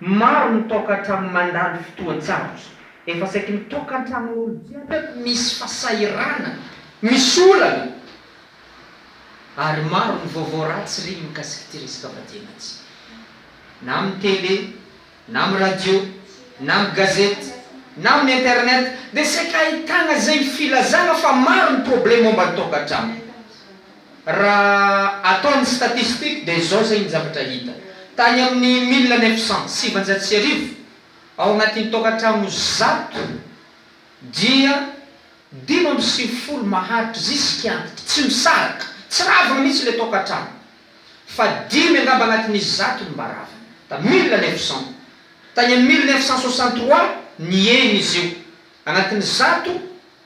Maro ny tôkatra mandalo fotoan-tsarotra. Efa saiky ny tôkantranon'olo jiaby eto misy fasahirana, misy olana. Ary maro ny vaovao ratsy reny mikasika ity resaka fadiana ity. Na amin'ny tele, na amin'ny radio, na amin'ny gazety, na amin'ny internet dia saika ahitagna izay filazagna fa maro ny probleme momba ny tôkantragno. Raha atao ny statistiques dia izao izay ny zavatra hita. Tany amin'ny mille neuf cents, sivinjato sy arivo, ao anatin'ny tokantrano zato dia dimy amby sivifolo maharitra ziska antitra, tsy misaraka, tsy ravina mihitsy ilay tokantrano, fa dimy angamba anatin'ny zato no mba ravina. Tamin'ny mille neuf cents. Tany amin'ny mille neuf cent soixante trois, nihena izy io. Anatin'ny zato.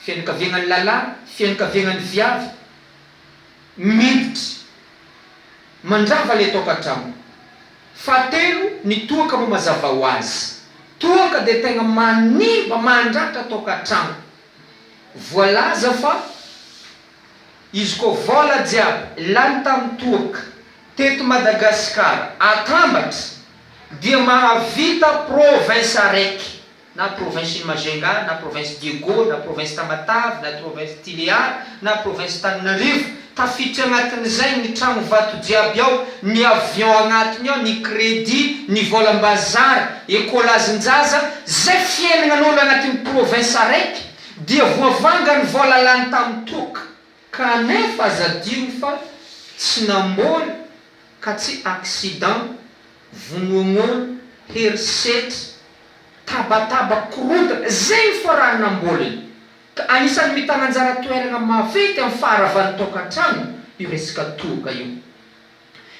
Fianakaviagnan'ny lalah, fianakaviagnan'ny viavy miditra mandrava ilay tokantrano. Fahatelo, ny toaka moa mazava ho azy, toaka dia tegna manimba, mandratra tokantrano. Voalaza fa izy koa vôla jiaby lany tamin'ny toaka teto Madagasikara atambatra dia mahavita province araiky. na province ny Majunga, na province Diego, na province Tamatave, na trovince Tiliara, na province Tananarivo, tafiditra agnatin'izay ny tragno vato jiaby ao, ny avion agnatiny ao, ny credit, ny volam-bazary, ecolage-njaza, zay fiainagnan'olo agnatin'ny province araiky dia voavanga ny vola lany tamin'ny toaka, kanefa aza adino fa tsy namboly ka tsy accident. Vonoagnoana, herisetra, tabataba, korontana, izay no farahana am-bolany. Ka anisan'ny mitana anjara toerana maventy amin'ny faharavan'ny tokantrano io resaka tohoka io.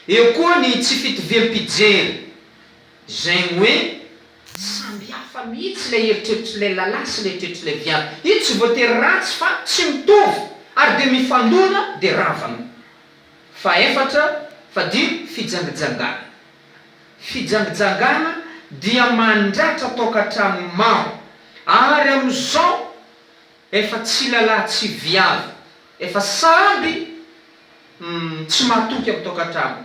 Eo koa ny tsy fitoviam-pijery, izay hoe samy hafa mihitsy ilay eritreritr'ilay lahy sy ilay eritreritr'ilay viavy. Io tsy voatery ratsy fa tsy mitovy ary dia mifandona dia ravana. Fahefatra, Fadiro, fijangijangana. Fijangijangana dia mandratra tokantrano maro ary amin'izao efa tsy lalahy tsy viavy efa samby tsy mahatoky amin'ny tokantrano.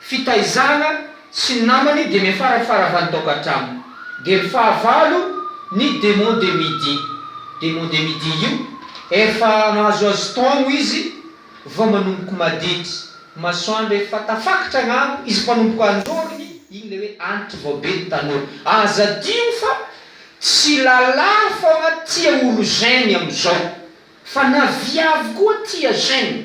fitaizana sy ny namany dia miafara faravan taokantrano dia ny fahavalo ny demon de midi demon de midi io efa mahazoazo taogno izy vao manomboko maditry masoandro efa tafakatra agnambo izy mpanomboko anjorogny igny le hoe antitry vao be ny tanora aza adio fa tsy lala fogna tia olo jeune amizao fa na viavy koa tia jeune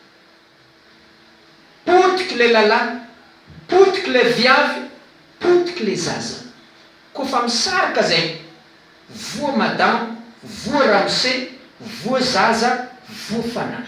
Potiky le lalahy, potiky le viavy, potiky le zaza. Ko fa misarika zay. Voa madama, voa ramose, voa zaza, voa fanahy.